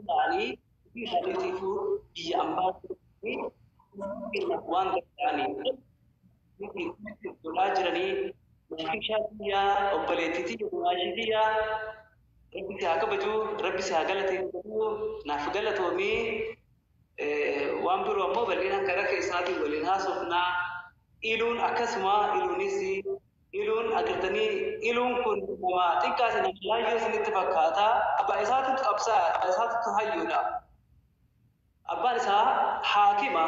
ta'anii fi hadiisii fi biyya ambaa fi waan danda'aniif lolaa jiranii maashaa biyyaa obboleettiitii maashii biyyaa rabbi si haa kabajuu rabbi si haa galateeffatu naaf galatoomii waan biroo ammoo bal'inaan karaa keessaatiin waliin haasofnaa iluun akkasuma iluunis Iluun agartanii iluun kun nama xiqqaati nama laayyoo isinitti fakkaata abbaa isaatu qabsaa'aa abbaa isaatu hayyuudha abbaan isaa haakima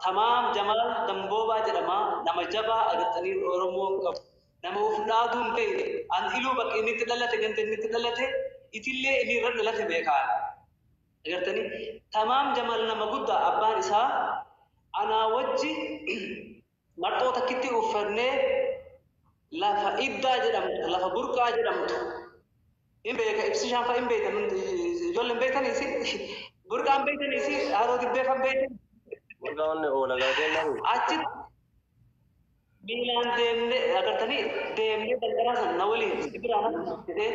tamaam jamaal damboobaa jedhama nama jabaa agartanii oromoon qabu nama uf dhaaduu hin beeyne an iluu bakka inni itti dhalate ganda inni itti dhalate itillee inni irra dhalate beekaan agartanii tamaam jamaal nama guddaa abbaan isaa anaa wajji Marxoo takkitti uffannee lafa iddaa jedhamtu, lafa burqaa jedhamtu hin beeka ibsishaan fa'a hin beektan hundi ijoollee hin beektanii isin burqaa hin beektanii isin haroo dibbee fa'a hin beektan Burqaa onnee oola galatee namu. achi miilaan deemnee agartanii deemnee dandaraa sana na waliin si biraa na dhufu jedhee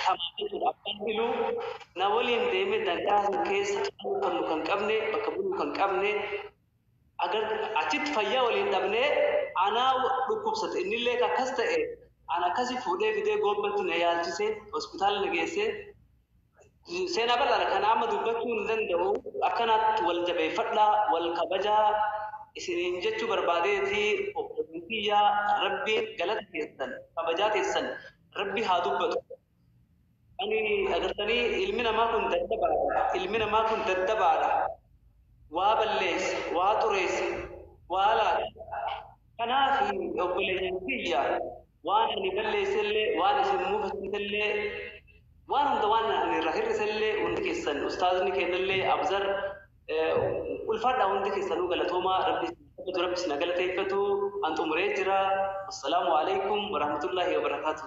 tamaa jechuudha abbaan iluu na waliin deemee dandaraa sana keessa qabu kan nu kan qabne bakka buluu kan qabne Agartee? Achitti fayyaa waliin dhabnee anaa dhukkubsate innillee ka akkas ta'e ana akkasi fuudhee fidee Goobbatti na yaalchise, hospitaala na geesse. Seenaa bal'aadha kana amma dubbachuu hin danda'u. Akkanaatti wal jabeeffadhaa, wal kabajaa isiniin jechuu barbaadeeti obboleeyyan kiyya. Rabbiin galata keessan, kabajaa keessan Rabbi haa dubbatu. Ani agartanii ilmi namaa kun daddabaadha, ilmi namaa kun daddabaadha, waa balleessa, waa xureessa, waa laata. Kanaaf obboleeyyan kiyya waan ani balleessellee, waan isin mufachiisellee, waan hunda waan ani irraa hir'isellee hundi keessan ustaazni keennallee Abzar ulfaadhaa hundi keessanuu galatoomaa Rabbi isin haa kabaju, Rabbi isin haa galateeffatu. An xumuree jira. Wassalaamu aleykum warahmatullaahi wabarakaatuh.